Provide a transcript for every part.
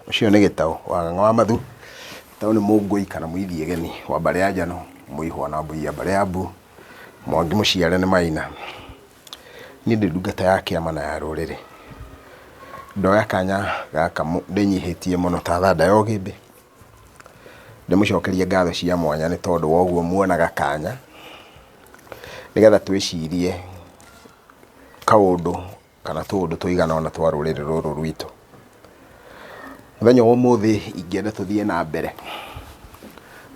Ũcio nĩ Gĩtaũ wa Ng'ang'a wa Mathu. Gĩtaũ nĩ Mũngũi kana Mũithiageni wa mbarĩ ya Njano, Mũihwa na Mũiya mbarĩ ya Mbu, Mwangi mũciare nĩ Maina. Niĩ ndĩ ndungata ya kĩama na ya rũrĩrĩ. Ndoya kanya gaka ndĩnyihĩtie mũno ta thanda ya ũgĩmbĩ, ndĩmũcokerie ngatho cia mwanya nĩ tondũ wa ũguo muonaga kanya, nĩgetha twĩcirie kaũndũ kana tũũndũ tũigana ũna twa rũrĩrĩ rũrũ rwitũ. Mũthenya wa ũmũthĩ ingĩenda tũthiĩ na mbere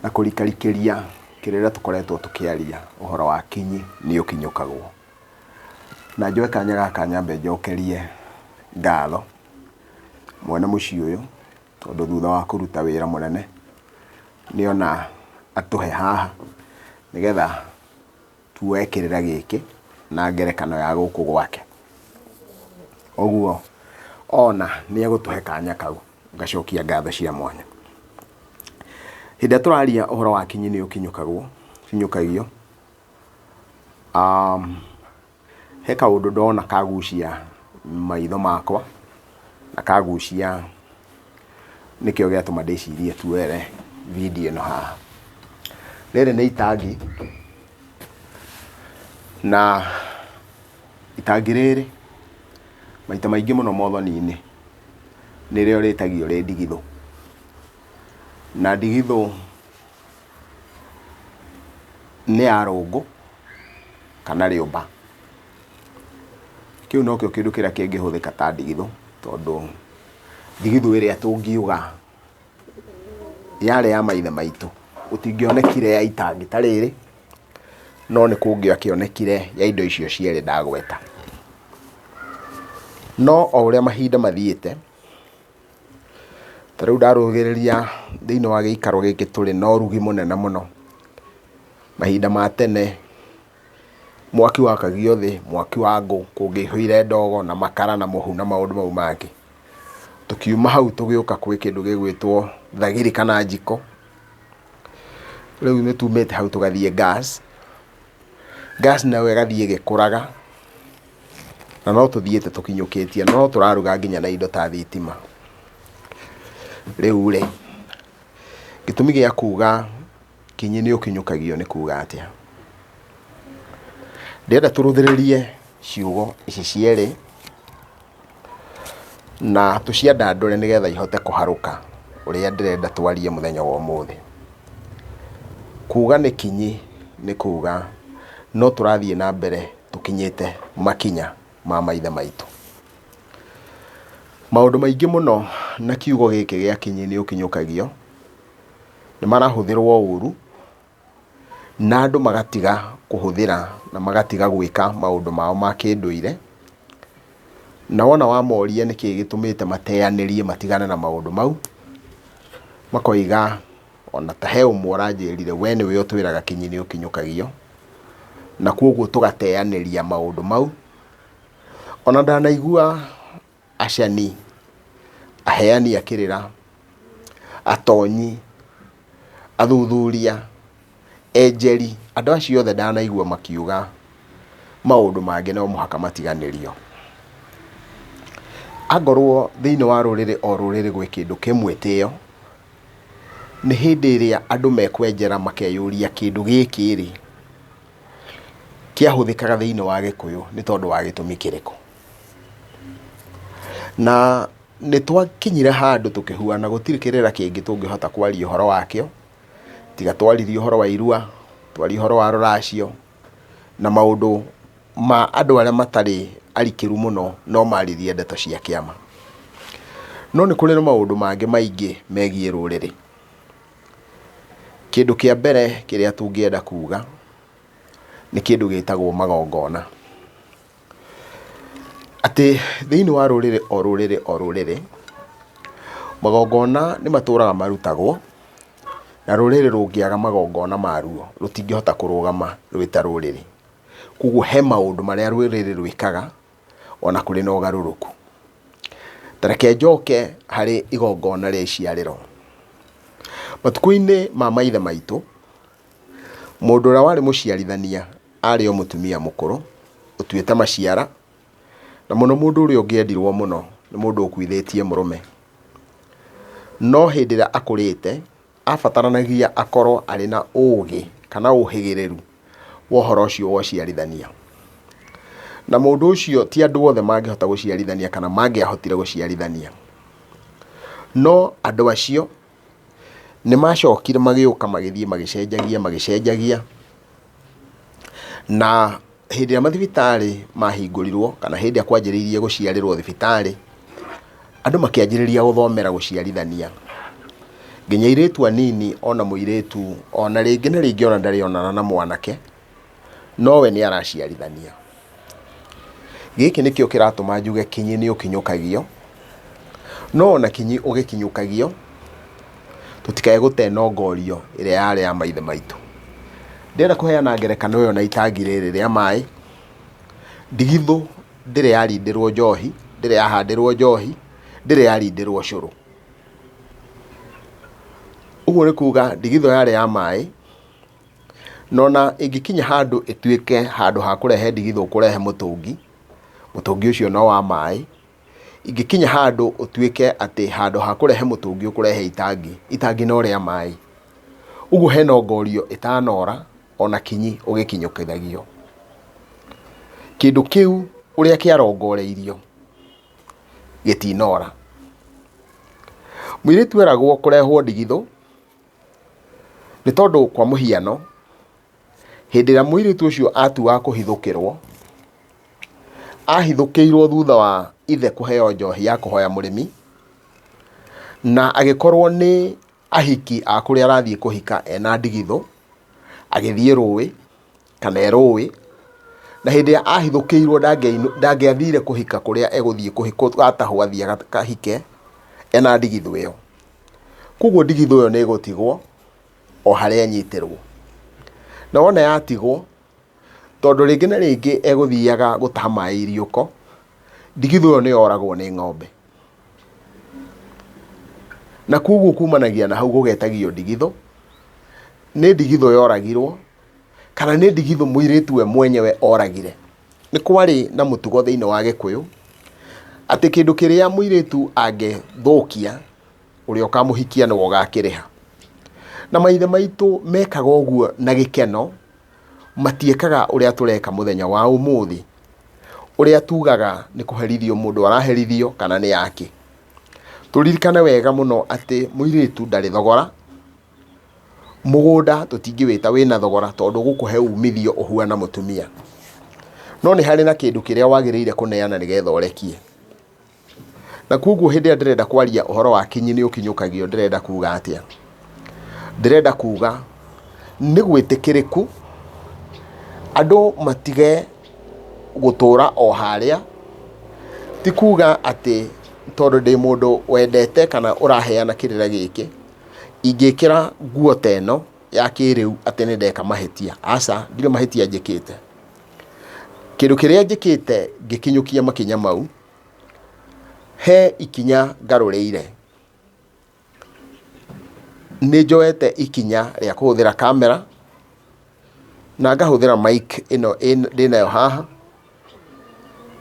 na kũrikarikĩria kĩrĩra tũkoretwo tũkĩaria ũhoro wa kinyi nĩ ũkinyũkagwo. Na njoe kanya gaka nyambe njokerie ngatho mwene mũciĩ ũyũ tondũ thutha wa kũruta wĩra mũnene nĩ ona atũhe haha nĩgetha Tuoe kĩrĩra gĩkĩ na ngerekano ya gũkũ gwake. Ũguo ona nĩ egũtũhe kanya kau gacokia ngatho cia mwanya. Hĩndĩ ĩrĩa tũraria ũhoro wa akinyi nĩ ũkinyũkagwo, ũkinyũkagio, he kaũndũ ndona kagucia maitho makwa na kagucia Nĩkĩo gĩatũma ndĩcirie tuoere video ĩno haha. Rĩrĩ nĩ itangi, na itangi rĩrĩ maita maingĩ mũno mothoni-inĩ nĩrĩo rĩtagio rĩ ndigithũ. Na ndigithũ nĩ ya rũngũ kana rĩũmba. Kĩu nokĩo kĩndũ kĩrĩa kĩngĩhũthĩka ta ndigithũ, tondũ ndigithũ ĩrĩa tũngiuga yarĩ ya maithe maitũ, gũtingĩonekire ya itangi ta rĩrĩ, no nĩ kũngĩakĩonekire ya indo icio cierĩ ndagweta. No o ũrĩa mahinda mathiĩte, ta rĩu ndarũthĩrĩria thĩiniĩ wa gĩikaro gĩkĩ tũrĩ na ũrugi mũnene mũno, mahinda ma tene. Mwaki wakagio thĩ, mwaki wa ngũ, kũngĩaihũire ndogo na makara na mũhu na maũndũ mau mangĩ. Tũkiuma hau tũgĩũka gwĩ kĩndũ gĩgwĩtwo thagiri kana njiko, rĩu nĩ tumĩte hau tũgathiĩ gas, gas nayo ĩgathiĩ ĩgĩkũraga, na no tũthiĩte tũkinyũkĩtie, no tũraruga nginya na indo ta thitima. Rĩu rĩ, gĩtũmi gĩa kuga... Kĩnyĩ nĩ ũkinyũkagio nĩ kuuga atĩa? Ndĩrenda tũrũthĩrĩrie ciugo ici cierĩ na tũciandandũre nĩ getha ihote kũharũka ũrĩa ndĩrenda twarie mũthenya wa ũmũthĩ. Kuuga nĩ kinyi nĩ kuuga no tũrathiĩ na mbere tũkinyĩte makinya ma maithe maitũ. Maũndũ maingĩ mũno na kiugo gĩkĩ gĩa kĩnyĩ nĩ ũkinyũkagio... nĩ marahũthĩrwo ũru, na andũ magatiga kũhũthĩra na magatiga gwĩka maũndũ mao ma kĩndũire, na wona wamoria nĩkĩ gĩtũmĩte mateyanĩrie matigane na maũndũ mau, makoiga ona ta he ũmwe ũranjĩrire we nĩwe ũtwĩraga kinyi nĩ ũkinyũkagio, na kogwo tũgateyanĩria maũndũ mau. Ona ndanaigua acani, aheani a kĩrĩra, atonyi, athuthuria, enjeri, andũ acio othe ndanaigua makiuga maũndũ mangĩ no mũhaka matiganĩrio. Angorwo thĩinĩ wa rũrĩrĩ o rũrĩrĩ gwĩ kĩndũ kĩ mwĩtĩo, nĩ hĩndĩ ĩrĩa andũ mekwenjera makeyũria kĩndũ gĩkĩ-rĩ, kĩahũthĩkaga thĩinĩ wa gĩkũyũ nĩ tondũ wa gĩtũmi kĩrĩkũ? Na nĩ twakinyire handũ tũkĩhuana gũtirĩ kĩrĩra kĩngĩ tũngĩhota kwaria ũhoro wakĩo, tiga twaririe ũhoro wa irua, twarie ũhoro wa rũracio, na maũndũ ma andũ arĩa matarĩ arikĩru mũno no maririe ndeto cia kĩama. No nĩ kũrĩ na maũndũ mangĩ maingĩ megiĩ rũrĩrĩ. Kĩndũ kĩa mbere kĩrĩa tũngĩenda kuga, nĩ kĩndũ gĩtagwo magongona. Atĩ thĩinĩ wa rũrĩrĩ o rũrĩrĩ o rũrĩrĩ, magongona nĩ matũraga marutagwo, na rũrĩrĩ rũngĩaga magongona maruo, rũtingĩhota kũrũgama rwĩ ta rũrĩrĩ. Koguo he maũndũ marĩa rũrĩrĩ rwĩkaga, ona kũrĩ na ũgarũrũku. Ta reke njoke harĩ igongona rĩa iciarĩro. Matukũ-inĩ ma maithe maitũ, Mũndũ ũrĩa warĩ mũciarithania arĩ o mũtumia mũkũrũ, ũtuĩte maciara, na mũno mũndũ ũrĩa ũngĩendirwo mũno nĩ mũndũ ũkuithĩtie mũrũme. No hĩndĩ ĩrĩa akũrĩte, abataranagia akorwo arĩ na ũgĩ kana ũhĩgĩrĩru wa ũhoro ũcio wa ũciarithania. Na mũndũ ũcio ti andũ othe mangĩhota gũciarithania kana mangĩahotire gũciarithania. No andũ acio... Nĩ macokire magĩũka magĩthiĩ magĩcenjagia magĩcenjagia, na hĩndĩ ĩrĩa mathibitarĩ mahingũrirwo kana hĩndĩ ĩrĩa kwanjĩrĩirie gũciarĩrwo thibitarĩ, andũ makĩanjĩrĩria gũthomera gũciarithania. Nginya airĩtu anini ona mũirĩtu ona rĩngĩ na rĩngĩ ona ndarĩ onana na mwanake. nowe nĩaraciarithania. Gĩkĩ nĩkĩo kĩratũma njuge kinyi nĩũkinyũkagio, no ona kinyi ũgĩkinyũkagio, tũtikae gũtenongorio ĩrĩa yarĩ ya maithe maitũ. Ndĩrenda kũheana ngerekano ĩyo na itangi rĩrĩ rĩa maĩ. Ndigithũ ndĩrĩ yarindĩrwo njohi, ndĩrĩ yahandĩrwo njohi, ndĩrĩ yarindĩrwo cũrũ. Ũguo nĩ kuga ndigithũ yarĩ ya maĩ. Na ona ĩngĩkinya handũ ĩtuĩke handũ ha kũrehe ndigithũ kũrehe mũtũngi, mũtũngi ũcio no wa maĩ, ingĩkinya handũ ũtuĩke atĩ handũ ha kũrehe mũtũngi ũkũrehe itangi, itangi no rĩa maĩ. Ũguo hena ongorio ĩtanora ona kinyi ũgĩkinyũkithagio. Kĩndũ kĩu ũrĩa kĩarongoreirio gĩtinora. Mũirĩtu eragwo kũrehwo ndigithũ. Nĩ tondũ kwa mũhiano, hĩndĩ ĩrĩa mũirĩtu ũcio atua kũhithũkĩrwo, ahithũkĩirwo thutha wa ithe kũheo njohi ya kũhoya mũrĩmi, na agĩkorwo nĩ ahiki a kũrĩa arathiĩ kũhika ena ndigithũ, agĩthiĩ rũĩ, kana erũĩ, na hĩndĩ ĩrĩa ahithũkĩirwo ndangĩathire kũhika kũrĩa egũthiĩ atahwo athiĩ akahike ena ndigithũ ĩyo. Koguo ndigithũ ĩyo nĩ ĩgũtigwo o harĩa ĩnyitĩrwo. Na wona yatigwo, tondũ rĩngĩ na rĩngĩ egũthiaga gũtaha maĩ Irioko, ndigithũ ĩyo nĩ yoragwo nĩ ng'ombe. Na koguo kumanagia na hau gũgetagio ndigithũ, nĩ ndigithũ yoragirwo Kana nĩ ndigithũ mũirĩtu we mwenyewe oragire. Nĩ kwarĩ na mũtugo thĩinĩ wa Gĩkũyũ, atĩ kĩndũ kĩrĩa mũirĩtu angĩthũkia, ũrĩa ũkamũhikia nĩwe ũgakĩrĩha. Na maithe maitũ mekaga ũguo na gĩkeno, matiĩkaga ũrĩa tũreka mũthenya wa ũmũthĩ, ũrĩa tugaga nĩ kũherithio mũndũ araherithio kana nĩ akĩ. Tũririkane wega mũno atĩ mũirĩtu ndarĩ thogora. Mũgũnda tũtingĩwĩta wĩna thogora tondũ ũgũkũhe umithio ũhuana mũtumia. No nĩ harĩ na kĩndũ kĩrĩa wagĩrĩire kũneana nĩgetha ũrekie. Na kuoguo hĩndĩ ĩrĩa ndĩrenda kwaria ũhoro wa kinyi nĩ ũkinyũkagio ndĩrenda kuga atĩa? Ndĩrenda kuga nĩ gwĩtĩkĩrĩku andũ matige gũtũra o harĩa, ti kuga atĩ tondũ ndĩ mũndũ wendete kana ũraheana kĩrĩra gĩkĩ, ingĩkĩra nguo ta ĩno ya kĩrĩu atĩ nĩ ndeka mahĩtia. Aca, ndirĩ mahĩtia njĩkĩte. Kĩndũ kĩrĩa njĩkĩte ngĩkinyũkia makinya mau, he ikinya ngarũrĩire. Nĩ njoete ikinya rĩa kũhũthĩra kamera, na ngahũthĩra mic ĩno ndĩnayo haha.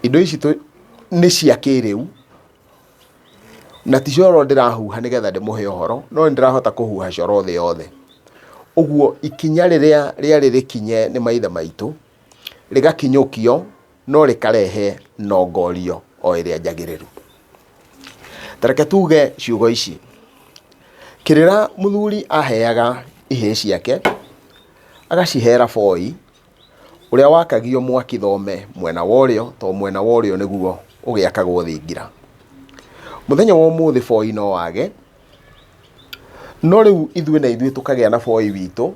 Indo ici nĩ cia kĩrĩu, Na ti coro ndĩrahuha nĩgetha ndĩmũhe ũhoro, no nĩ ndĩrahota kũhuha coro thĩ yothe. Ũguo ikinya rĩrĩa rĩarĩ rĩkinye nĩ maithe maitũ, rĩgakinyũkio no rĩkarehe nongorio o ĩrĩa njagĩrĩru. Ta reke tuge ciugo ici, kĩrĩra mũthuri aheaga ihĩĩ ciake, agacihera boi. ũrĩa wakagio mwaki thome mwena wa ũrĩo, to mwena wa ũrĩo nĩguo ũgĩakagwo thingira. Mũthenya wa ũmũthĩ boi no wage, no rĩu ithuĩ na ithuĩ tũkagĩa na boi witũ,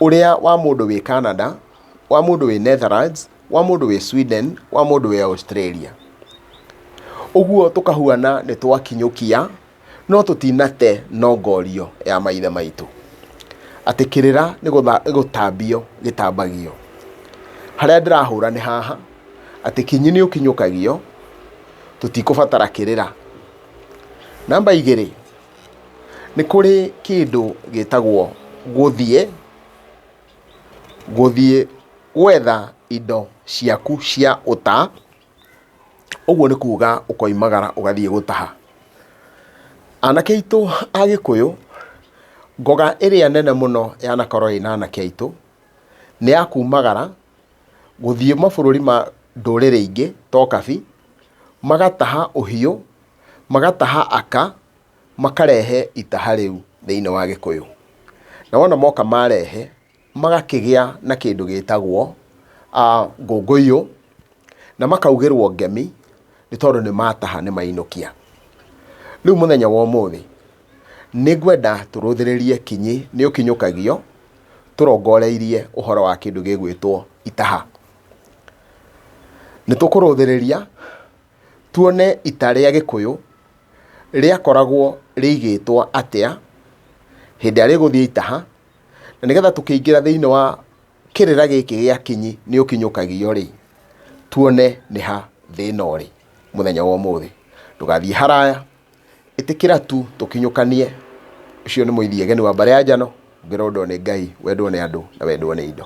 ũrĩa wa mũndũ wĩ Canada, wa mũndũ wĩ Netherlands, wa mũndũ wĩ Sweden, wa mũndũ wĩ Australia. Ũguo tũkahuana nĩ twakinyũkia no tũtinate nongorio ya maithe maitũ atĩ kĩrĩra nĩ gũtha- nĩ gũtambio gĩtambagio harĩa ndĩrahũra nĩ haha atĩ kinyi nĩ ũkinyũkagio tũtikũbatara kĩrĩra namba igĩrĩ nĩ kũrĩ kĩndũ gĩtagwo gũthiĩ gũthiĩ gwetha indo ciaku cia ũta ũguo nĩ kuga ũkoimagara ũgathiĩ gũtaha. Anake aitũ a Gĩkũyũ, ngoga ĩrĩa nene mũno yanakorwo ĩna anake aitũ, nĩ ya kumagara gũthiĩ mabũrũri ma ndũrĩrĩ ingĩ ta ũkabi, magataha ũhiũ, magataha aka, makarehe itaha rĩu thĩiniĩ wa Gĩkũyũ. Na wona moka marehe... magakĩgĩa na kĩndũ gĩtagwo ngũngũiyũ, na makaugĩrwo ngemi nĩ tondũ nĩ mataha nĩ mainũkia. Rĩu mũthenya wa ũmũthĩ, nĩ ngwenda tũrũthĩrĩrie kinyi nĩ ũkinyũkagio, tũrongoreirie ũhoro wa kĩndũ gĩgwĩtwo itaha. Nĩ tũkũrũthĩrĩria tuone ita rĩa gĩkũyũ rĩakoragwo rĩigĩtwo atĩa, hĩndĩ ĩrĩa rĩgũthiĩ itaha. Na nĩgetha tũkĩingĩra thĩinĩ wa kĩrĩra gĩkĩ gĩa kinyi nĩ ũkinyũkagio rĩ, tuone nĩ ha thĩna ũrĩ mũthenya wa ũmũthĩ. Ndũgathiĩ haraya, ĩtĩkĩra tu tũkinyũkanie, ũcio nĩ mũthiegeni wa mbarĩ ya njano, ũngĩrondwo nĩ Ngai, wendwo nĩ andũ na wendwo nĩ indo.